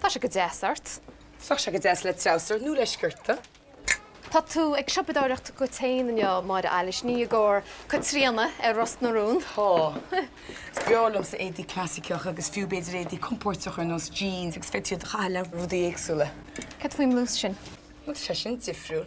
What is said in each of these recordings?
Tá sé go deas ort. Tá sé go deas le treabhsar nó le sciorta. Tá tú ag siopadóireacht go tréan inniu, Máire Eilís, nó i gcomhair Caitríona ar Ros na Rún. Tá. Is breá liomsa éadaí clasaiceacha agus fiú b'fhéidir éadaí compóirteacha ar nós jeans agus féadfaidh tú iad a chaitheamh le rudaí éagsúla. Cad faoin mblús sin? Bhuel, tá sé sin difriúil.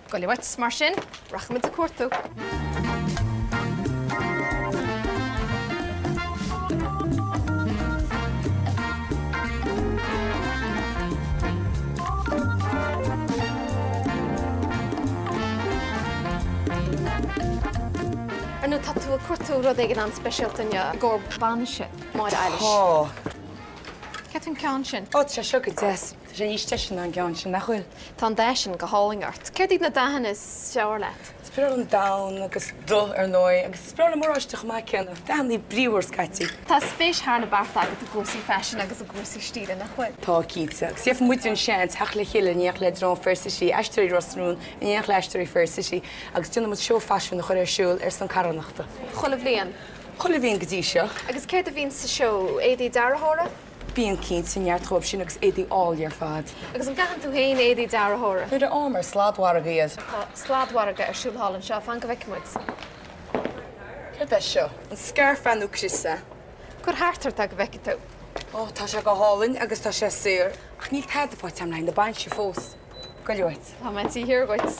Gabh i leith uait, mar sin, rachaidh muid ag cuartú. Ar ndóigh tá tú ag cuartú rud éigin an-speisialta inniu i gcomhair bainise Máire Eilís? Tá. Céard faoin ceann sin? Ó, tá sé seo go deas. Tá sé níos deise ná an gceann sin, nach bhfuil? Tá an dath sin go hálainn ort. Céard iad na dathanna is fearr leat? Is breá liom donn agus dubh, ar ndóigh, agus is breá liom oráiste chomh maith céanna. Dathannaí bríomhar scaití. Tá spéis thar na bearta agat i gcúrsaí faisin agus i gcúrsaí stíle, nach bhfuil? Tá cinnte. Agus faigheann muide an seans theacht le chéile in éineacht le drong Fair City, Aisteoirí Ros na Rún in éineacht le Aisteoirí Fair City agus déanann muid seó faisin a chur ar siúl ar son carthanachta. Chuile bhliain? Chuile bhliain go dtí seo. Agus céard a bhíonn sa seó? Éadaí dearthóra? Bíonn cinnte, neart dhóibh sin agus éadaí áille ar fad. Agus an gcaitheann tú féin éadaí dearthóra? Nuair a fhaighim ar shladmhargadh iad. Tá sladmhargadh ar siúl thall anseo, fan go bhfeicfidh muid. Céard é seo? An scairf nó crios é? Cuir thart ort é go bhfeicfidh tú. Ó, tá sé go hálainn agus tá sé saor. Ach níl tada faighte agam le haghaidh na bainise fós. Gabh i leith uait. Tá mé ag tíocht i do dhiaidh.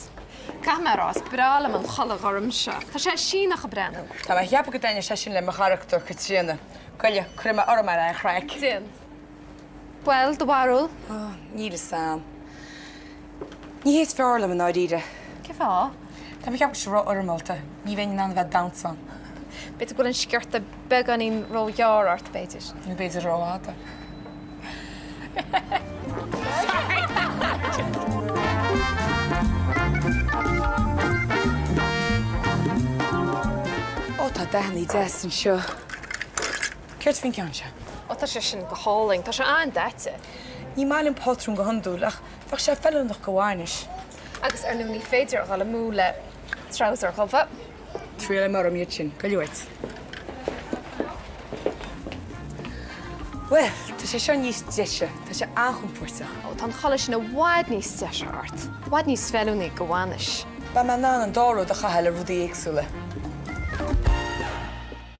Caithfidh mé a rá, is breá liom an chulaith ghorm seo. Tá sé Síneach ag breathnú. Tá mé ag ceapadh go bhfeilfeadh sé sin le mo charachtar Caitríona. Gabh i leith, cuirfidh mé orm é le haghaidh an chraic. Déan. Bhuel, do bharúil? Ó, níl a fhios agam. Ní hé is fearr liom i ndáiríre. Cé fáth? Tá mé ag ceapadh go bhfuil sé ró-fhoirmeálta. Ní bheinn in ann a bheith ag damhsa ann. B'fhéidir go bhfuil an sciorta Beagáinín róghearr ort, b'fhéidir. Nó b'fhéidir rófhada. Ó, tá dathannaí deas anseo. Céard faoin gceann seo? Ó, tá sé sin go hálainn. Tá sé an-daite. Ní maith liom pátrún go hiondúil, ach bheadh sé feiliúnach do bhainis. Agus ar ndóigh, ní féidir a dhul amú le treabhsar dubh. Triailfidh mé orm iad sin gabh i leith uait. Bhuel, tá sé seo níos deise, tá sé an-chompóirteach. Ó tá an chulaith sin i bhfad níos deise ort, i bhfad níos feiliúnaí do bhainis. Beidh mé in ann an dá rud a chaitheamh le rudaí éagsúla.